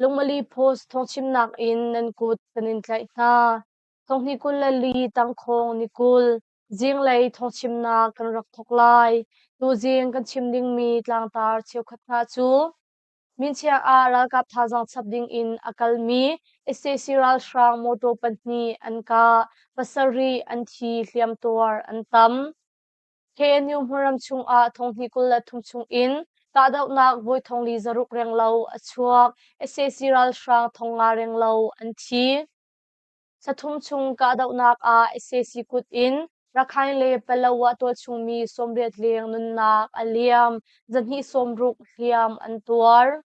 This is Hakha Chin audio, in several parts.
Lungmali post thawngchimnak in nan kut kan in tlaih hna. Thonghni kul le li tangkhawng ni kul zinglei thawngchimnak kan rak thawk lai. Tuzing kan chim dingmi tlangtar cheukhat hna cu minchiah ah ralkap thazaang chap ding in a kalmi sac ralhrang mawtaw pahnih an kah, pasarih an thi, hliamtuar an tam. KNU hmunram chungah thonghni kul le thum chungin kahdohnak voi thongli zaruk reng lo a chuak, sac ralhrang thong nga reng lo an thi. Sathum chung kahdohnak ah sac kut in Rakhine le Palawa tualchungmi sawmriat leng nunnak a liam, zahnih sawmruk hliam an tuar.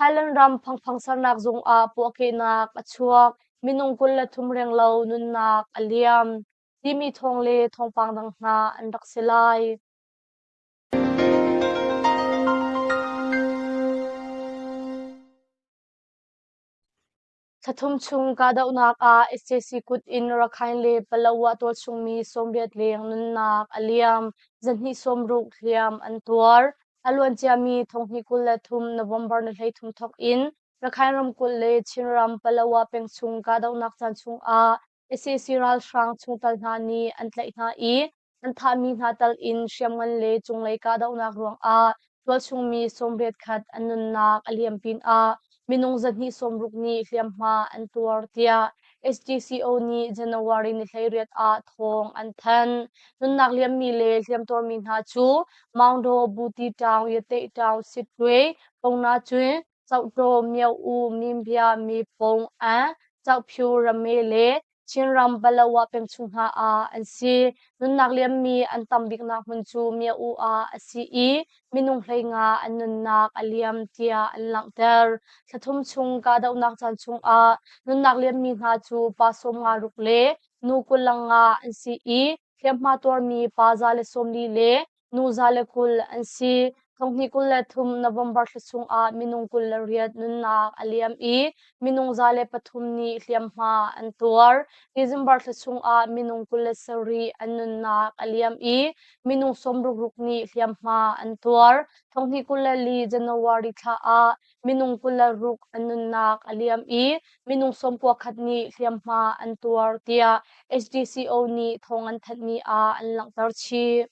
Thailand ram phangphang sernak zung ah puahkehnak a chuak, minung kul le thum reng lo nunnak a liam. Timi thawng le thawngpang dang hna an rak si lai. Thla thum chung kahdohnak ah SJC kut in Rakhine le Palawa tual chungmi sawmbiat leng nunnak a liam, zahnih sawmruk hliam an tuar. A luanciami thonghnih kul le thum November ni hleithum thawk in Rakhine ramkulh le Chinram Palawa peng chung kahdohnak caan chung ah Sac ralhrang chungtel hna nih an tlaih hna i an thahmi hna tal in hriamngan le cunglei kahdohnak ruangah tualchungmi sawmriat khat an nunnak a liam pinah minung zahnih sawmruk nih hliamhma an tuar tiah SGCO nih January ni hleiriat ah thawng an thanh. Nunnak liammi le hliamtuarmi hna cu Maungdaw, Buti Town, Yateh Town, Sitwe, Pona Cwe, Cohtaw Myo-u Nimbya miphung ah Caophyu rame le Chinram Palawa pemchungha ah an si. Nunnak liammi an tam biknak hmun cu Myo-u ah a si i minung hlei nga an nunnak a liam tiah an langhter. Thla thum chung kahdohnak caan chungah nunnak liammi hna cu pa sawmnga ruk le nu kul lang nga an si i hliamhma tuarmi pa za le sawmli le Nu za le kul an si. Tlunghnih kul le thum November thla chungah minung kul le riat nunnak a liam i minung za le pathum nih hliamhma an tuar. December thla chungah minung kul le sarih an nunnak a liam i minung sawm ruk ruk nih hliamhma an tuar. Tlunghnih kul le li January thla ah minung kul le ruk an nunnak a liam i minung sawmpua khat nih hliamhma an tuar tiah HDCO nih thawng an thanhmi ah an langhter chih.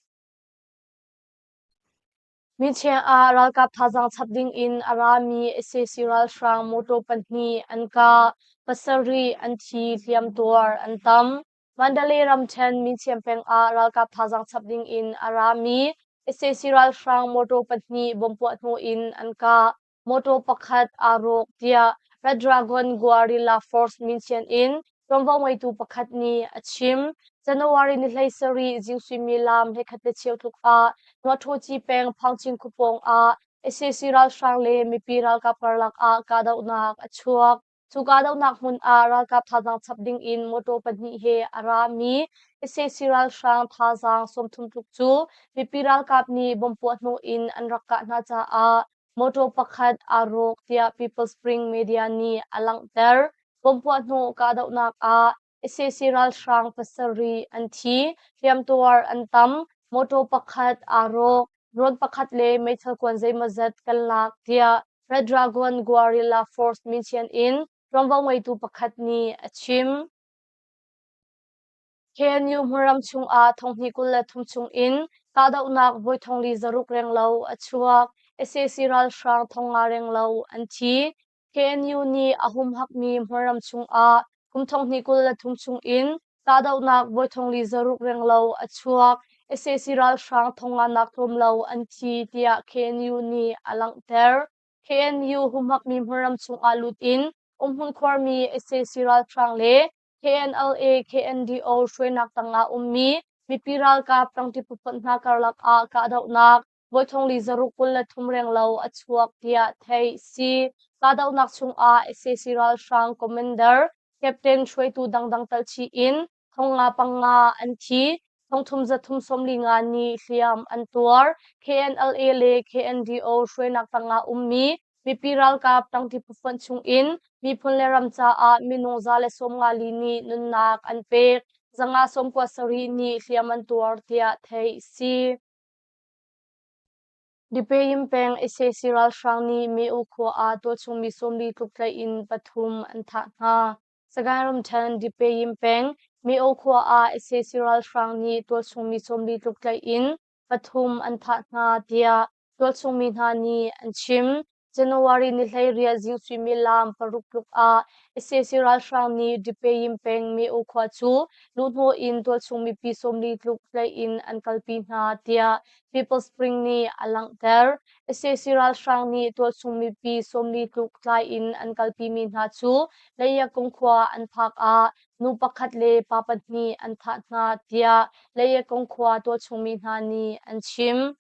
Michiang ah ralkap thazaang chap dingin a rami sac ralhrang motor pahnih an kah, pasarih an thi, hliamtuar an tam. Mandalay ramṭhen Myint peng ah ralkap thazaang chap ding in a rami sac ralhrang motor pahnih bom puah hnu in an kah, motor pakhat aa rawk, tiah Red Dragon Guerrilla Force Myint in ṭuanvo ngeitu pakhat nih a chim. January ni hleisarih zing suimilam hekhat le cheu tluk ah Nuahtawci peng Phangcin khupawng ah sac ralhrang le mipi ralkap karlak ah kahdohnak a chuak. Cu kahdohnak hmun ah ralkap thazaang chap ding in motor pahnih he a rami ICC ralhrang thazaang sawmthum tluk cu mipi ralkap nih bomb puah hnawh in an rak kah hna caah motor pakhat aa rawk tiah People Spring media nih a langhter. Bomb puah hnawh kahdohnak ah Sac ralhrang pasarih an thi, hriamtuar an tam, mawtaw pakhat aa rawk, drone pakhat le meithal kuan zeimawzat kan lak, tiah Red Dragon Guerrilla Force Mission in ṭuanvo ngeitu pakhat nih a chim. KNU Hmuram chungah thonghnih kul le thum chungin kahdohnak voi thongli zaruk renglo a chuak. Sac ralhrang thong nga renglo an thi. KNU nih a humhakmi hmunram chungah kum thonghni kul le thum chungin kahdohnak vawi thongli zaruk reng lo a chuak. sac ralhrang thonglainak tlawm lo an thi tiah KNU nih a langhter. KNU humhakmi hmunram chungah lut in umhmun khuarmi sac ralhrang le KNLA KNDO hruainak tangah ummi mipi ralkap tangti putpawnh hna karlak ah kahdohnak Voi thong li zaruk kul le thum reng lo a chuak tiah theih si. Kahdohnak chungah SAC ralhrang commander, captain hruaitu dangdang tal thi in thong nga panga an thi. Thong thum zathum sawmli nga nih hliam an tuar. KNLA le KNDO hruainak tangah ummi mipi ralkap tangti phufuan chungin miphun le ram caah minung za le sawmngali nih nunnak an pek. Zanga sawmkua sarih nih hliam an tuar tiah theih si. Dipeyim peng ICC ralhrang nih Me'u khua ah tualchungmi sawmli tluk tlaih in pathum an thah hna. Sagaing ramṭhen Dipeyim peng Me'u khua ah ICC ralhrang nih tualchungmi sawmli tluk tlaih in pathum an thah hna, tiah tualchungmi hna nih an chim. January ni hleiriah zing suimilam paruk tluk ah sac ralhrang nih Dipeyim peng Meo khua cu luhhnawh in tualchung mipi sawmli tluk hlei in an kalpi hna tiah People Spring nih a langhter. sac ralhrang nih tualchung mipi sawmli tluk tlai in an kalpimi hna cu Leiyakung khua an phak ah nu pakhat le pa pahnih an thah hna tiah Leiyakung khua tualchungmi hna nih an chim.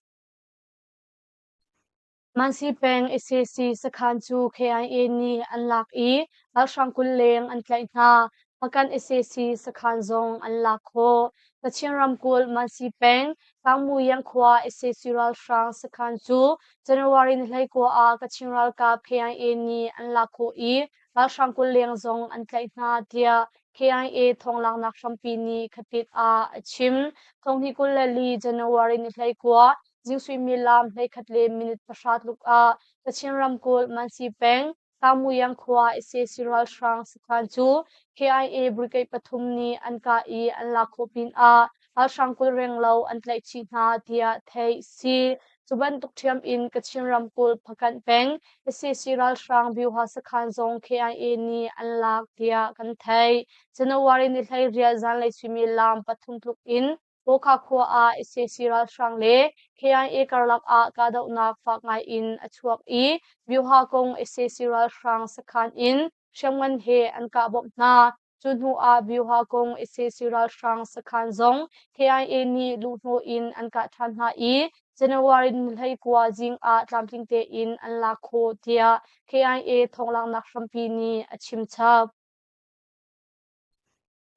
Mansi peng ICC sakhan cu KIA nih an lak i ralhrang kul leng an tlaih hna. Hmakan ICC sakhan zong an lak khawh. Kachin ramkulh Mansi peng Tlangmuyang khua ICC ralhrang sakhan cu January ni hleikua ah Kachin ralkap KIA nih an lak khawh i ralhrang kul leng zong an tlaih hna tiah KIA thawnglanghnak hrampi nih khatit ah a chim. Thonghni kul le li January ni hleikua Zing suimilam hleikhat le minute pahra tluk ah Kachin ramkulh Mansi peng Sangmuyang khua IC ralhrang sakhan cu KIA brigade pathum nih an kah i an lak khawh pinah ralhrang kul reng lo an tlaih chih hna tiah theih a si. Cu bantuk ṭhiam in Kachin ramkulh Phakanh peng IC ralhrang Byuha sakhan zong KIA nih an lak tiah kan theih. January ni hleiriat zanlei suimilam pathum tluk in Mawkha khua ah ICC ralhrang le Kyain-e karlak ah kahdohnak fak ngai in a chuak i Myoha kong ICC ralhrang sakhan in hriamngan he an kah bawmh hna. Cu hnu ah Myoha kong ICC ralhrang sakhan zong Kyain-e nih luhhnawh in an kah ṭhan hna i January ni hleikua zing ah tlamtling tein an lak khawh tiah Kyain-e thawng langhnak hrampi nih a chim chap.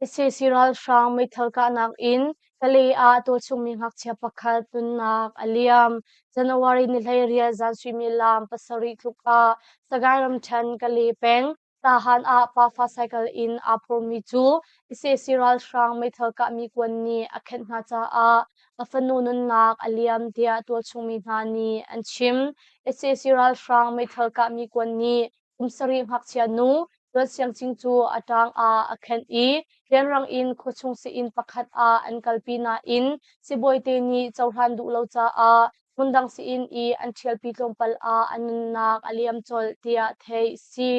Sac ralhrang meithal kahnak in Kalay ah tuchungmi ngakchia pakhat tunnak a liam. January ni hleiriat zan suimilam pasarih tluk ah Sagaing ramṭhen Kalay peng Tahan ah pafa cycle in aa phurmi cu sac ralhrang meithal kahmi kuan nih a khenh hna caah a fanu nunnak a liam tiah tualchungmi hna nih an chim. Sac ralhrang meithal kahmi kuan nih Kum sarih ngakchia nu Cuan Siangcing cu a ṭang ah a khenh i rianrang in khuachung seh-inn pakhat ah an kalpi nain sibawite nih cohlan duh lo caah hmundang seh-inn i an ṭhialpi tlawmpal ah a nunnak a liam colh tiah theih a si.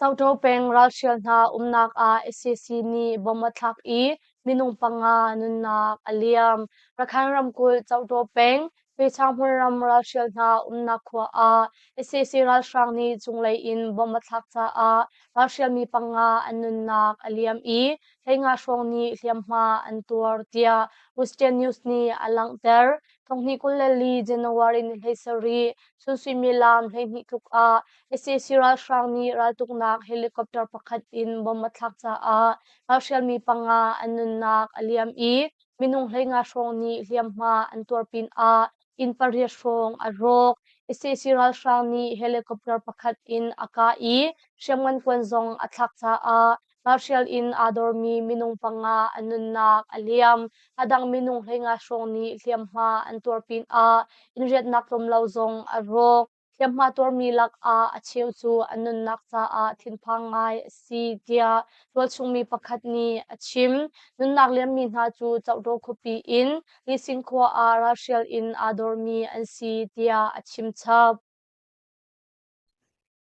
Caṭo peng ralhrial hna umnak ah sac nih bomb a thlak i minung panga nunnak a liam. Rakhine ramkulh Caṭo peng Pechahmun ram ralhrial hna umnak khua ah sac ralhrang nih cunglei in bomb a thlak caah ralhrialmi panga an nunnak a liam i hleinga hrawng nih hliamhma an tuar tiah Western News nih a langhter. Thonghni kul le li January ni hleisarih, chun suimilam hleihnih tluk ah ICC ralhrang nih raltuknak helicopter pakhat in bom a thlak caah ralhrial mi panga an nunnak a liam i minung hleinga hrawng nih hliamhma an tuar pinah inn pariat hrawng a rawk. ICC ralhrang nih helicopter pakhat in a kah i hriamngan kuan zong a thlak caah ralhrial in aa dormi minung panga an nunnak a liam. A dang minung hleinga hrawng nih hliamhma an tuar pinah in riatnak tlawm lo zong a rawk. hliamhma tuarmi lakah a cheu cu an nunnak caah thinphang ngai a si tiah tualchungmi pakhat nih a chim. Nunnak liammi hna cu Chokdaw khuapi in Lising khua ah ralhrial in aa dormi an si tiah a chim chap.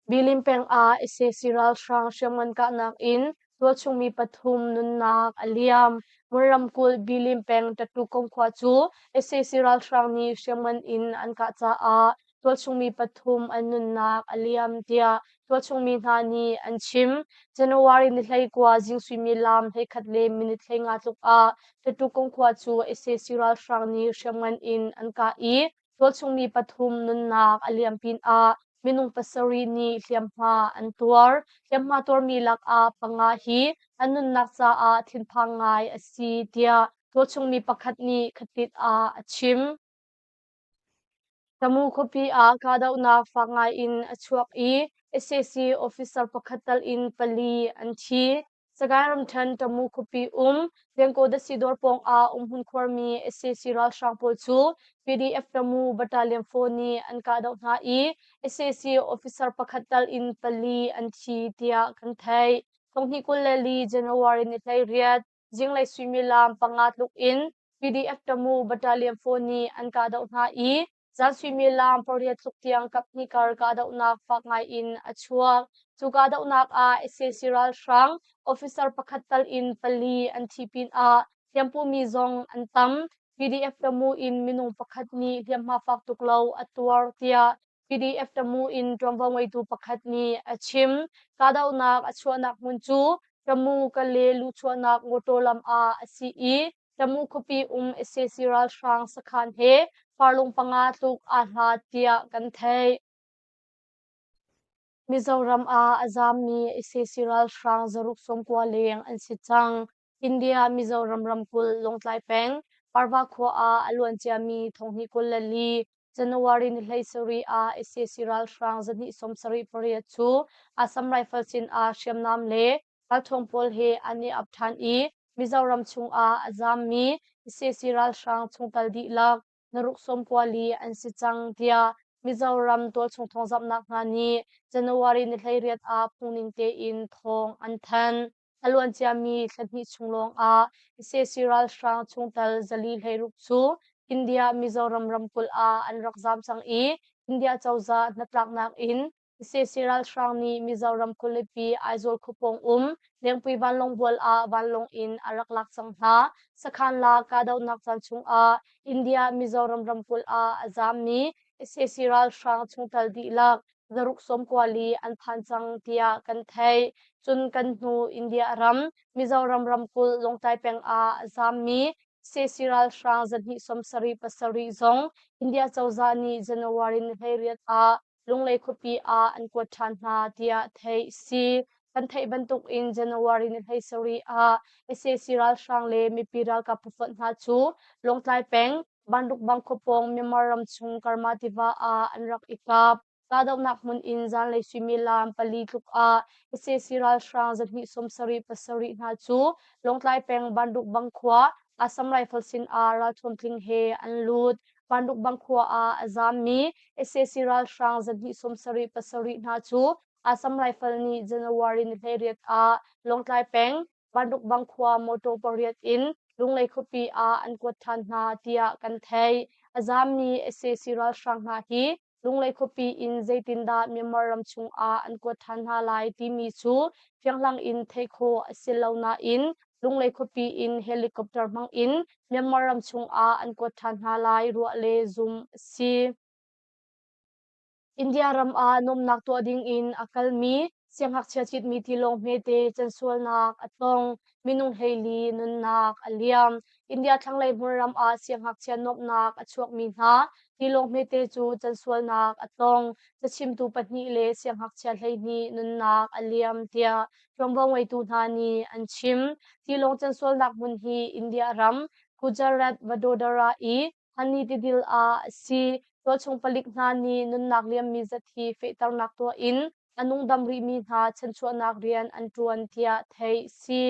Bilin peng ah ICC ralhrang hriamngan kahnak in Tualchungmi pathum nunnak a liam. Mur ramkulh Bilin peng Ṭatukom khua cu sac ralhrang nih hriamngan in an kah caah tualchungmi pathum an nunnak a liam, tiah tualchungmi hna nih an chim. January ni hleikua zing suimilam hleikhat le minute hleinga tluk ah Ṭatukom khua cu sac ralhrang nih hriamngan in an kah i Tualchungmi pathum nunnak a liam pinah minung pasarih nih hliamhma an tuar. Hliamhma tuarmi lakah panga hi an nunnak caah thinphang ngai a si tiah tualchungmi pakhat nih khatit ah a chim. Tamu khuapi ah kahdohnak fak ngaiin a chuak i SAC officer pakhat tal in pali an thi. Sagaing ramṭhen Tamu khuapi um Pengkawdasidawr pawngah umhmun khuarmi SAC ralhrang pawl cu PDF Tamu battalion four nih an kahdoh hna i SAC officer pakhat tal in pali an thi tiah kan theih. Tonghnih kul le li January ni hleiriat zinglei suimilam panga tluk in PDF Tamu battalion four nih an kahdoh hna i Caan suimilam pariat tluk tiang kaphnih kar kahdohnak fak ngaiin a chuak. Cu kahdohnak ah sac ralhrang officer pakhat tal in pali an thi pinah hliampumi zong an tam. PDF Tamu in minung pakhat nih hliamhma fak tuk lo a tuar tiah PDF Tamu in ṭuanvo ngeitu pakhat nih a chim. Kahdohnak a chuahnak hmun cu Tamu, Kale luchuahnak mawṭaw lam ah a si i Camu khuapi um sac ralhrang sakhan he farlung panga tluk aa hla tiah kan theih. Mizoram ah a zaammi sac ralhrang zaruk sawmkua leng an si cang. India Mizoram ramkulh Lawngtlai peng Parva khua ah a luanciami Thonghni kul le li January ni hlei sarih ah sac ralhrang zahnih sawm sarih pariat cu Assam Rifle sin ah hriamnam le Ralṭhawng pawl he an i ap ṭhan i Mizoram chungah a zammi sac ralhrang chungtel dihlak na ruk sawmkua li an si cang tiah Mizoram tualchung thawngzamhnak hna nih January ni hleiriat ah phungning tein thawng an thanh. A luanciami thla hnih chung lawngah sac ralhrang chungtel zali hleiruk cu India Mizoram ramkulh ah an rak zam cang i India cozah hnatlaknak in ICC ralhrang nih Mizoram khualipi Aizawl khuapawng um Lengpui vanlawngbual ah vanlawng in a rak lak cang hna. Sakhan la kahdohnak caan chungah India Mizoram ramkulh ah a zaammi ICC ralhrang chungtel dihlak zaruk sawmkuali an phan cang tiah kan theih. Cun kan hnu India ram Mizoram ramkulh Lawngtlai peng ah a zaammi ICC ralhrang zarhnih sawm sarih pasarih zong India cozah nih January ni hleiriat ah Cunglei khuapi ah an kuat ṭhan hna tiah theih si. Kan theih bantuk in January ni hleisarih ah sac ralhrang le mipi ralkap pafonh hna cu Lawngtlai peng Banrukbang khua pawng Myanmar ram chung Karma tiva ah an rak i kap. Kahdohnak hmun in zanlei suimilam pali tluk ah sac ralhrang zahnih sawmsarih pasarih hna cu Lawngtlai peng Banrukbang khua Assam Rifle sin ah ralthuam tling he an lut. Panrukbang khua ah a zammi sac ralhrang zahnih sawmsarih pasarih hna cu Assam Rifle nih January ni hlei ah Lawngtlai peng Panrukbang khua motor pariat in Lunglei khuapi ah an kuat ṭhan hna tiah kan theih. A zammi sac ralhrang hna hi Cunglei khuapi in zeitindah Myanmar ram chungah an kuat ṭhan hna lai timi cu fianghlang in theih khawh a si lo nain cunglei khuapi in helicopter hmangin Myanmar ram chungah an kuat ṭhan hna lai ruah le zumh a si. India ram ah nuamnak tuah dingin a kalmi Siangngakchia citmi tilawng hmete can sualnak a tong, minung hleili nunnak a liam. India thlanglei hmunram ah siangngakchia nuamhnak a chuakmi hna tilawng hmete cu can sualnak a tong. Cachimtu pahnih le siangngakchia hleihnih nunnak a liam tiah ṭuanvo ngeitu hna nih an chim. Tilawng can sualnak hmun hi India ram Gujarat, Vadodara i Hmanni tidil ah si tualchung palik hna nih nunnak liammi zat hi fehternak tuah in a nungdam rihmi hna chanchuahnak rian an ṭuan tiah theih si.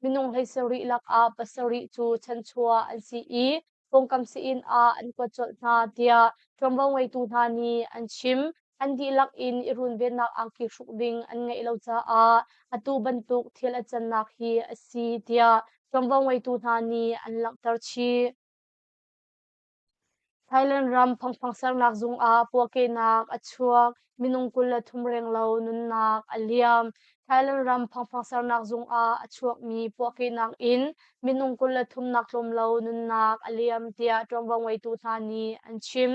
Minung hlei rih lakah pasarih cu chanchuah an si i pawngkam sein ah an kuat colh hna tiah ṭuanvo ngeitu hna nih an chim. An dihlak in i runvennak angki hruk ding an ngeih lo caah atu bantuk thil a cannak hi a si tiah ṭuanvo ngeitu hna nih an langhter chih. Thailand ram phangphang sernak zung ah puahkehnak a chuak, minung kul le thum reng lo nunnak a liam. Thailand ram phangphang sernak zung ah a chuakmi puahkehnak in minung kul le thum nak tlawm lo nunnak a liam tiah ṭuanvo ngeitu hna nih an chim.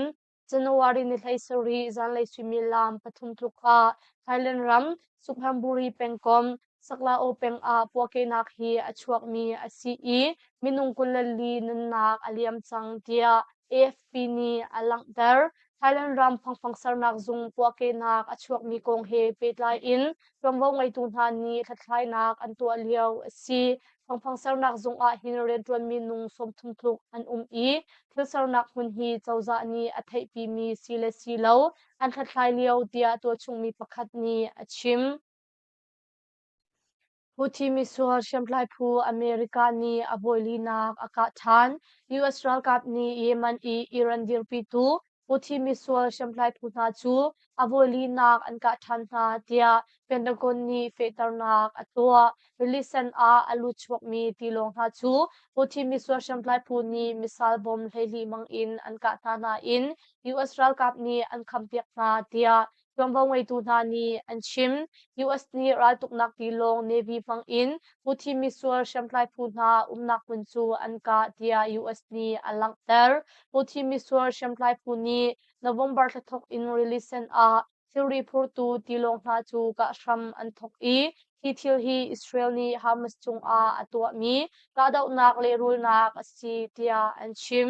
January ni thla sarih zanlei suimilam pathum tluk ah Thailand ram Sukhamburi pengkom Saklaw peng ah puahkehnak hi a chuakmi a si i minung kul le li nunnak a liam cang tiah AFP nih a langhter. Thailand ram phangfang sernak zung puahkehnak a chuakmi kong he pehtlai in Chawmvo ngeitu hna nih hlathlainak an tuah lio a si. Thawngpang sernak zung ah hin rianṭuanmi nung sawmthum tluk an um i thil sernak hmun hi cozah nih a theihpimi si le si lo an hlathlai lio tiah tuahchungmi pakhat nih a chim. Houthi misual hriamtlai phu America nih a bawilinak a kah ṭhan. US ralkap nih Yemen i Iran dirpitu Houthi misual hriamtlaipu hna cu a vawilinak an kah ṭhan hna tiah Pentagon nih fehternak a tuah. Release can ah a lut chuakmi tilawng hna cu Houthi misual hriamtlaipu nih missile bomb hleihnih mang in an kah hna nain US ralkap nih an khampiak hna tiah Tuanvo ngeitu hna nih an chim. US nih raltuknak tilawng Navy hmangin Houthi missile hriamtlai phu hna umnak hmun cu an kah tiah US nih a langhter. Houthi missile hriamtlai phu nih November thla thawk in release sen ah thilri phurtu tilawng hna cu kah hram an thawk i hi thil hi Israel nih Hamas cungah a tuahmi kahdohnak lehrulnak a si tiah an chim.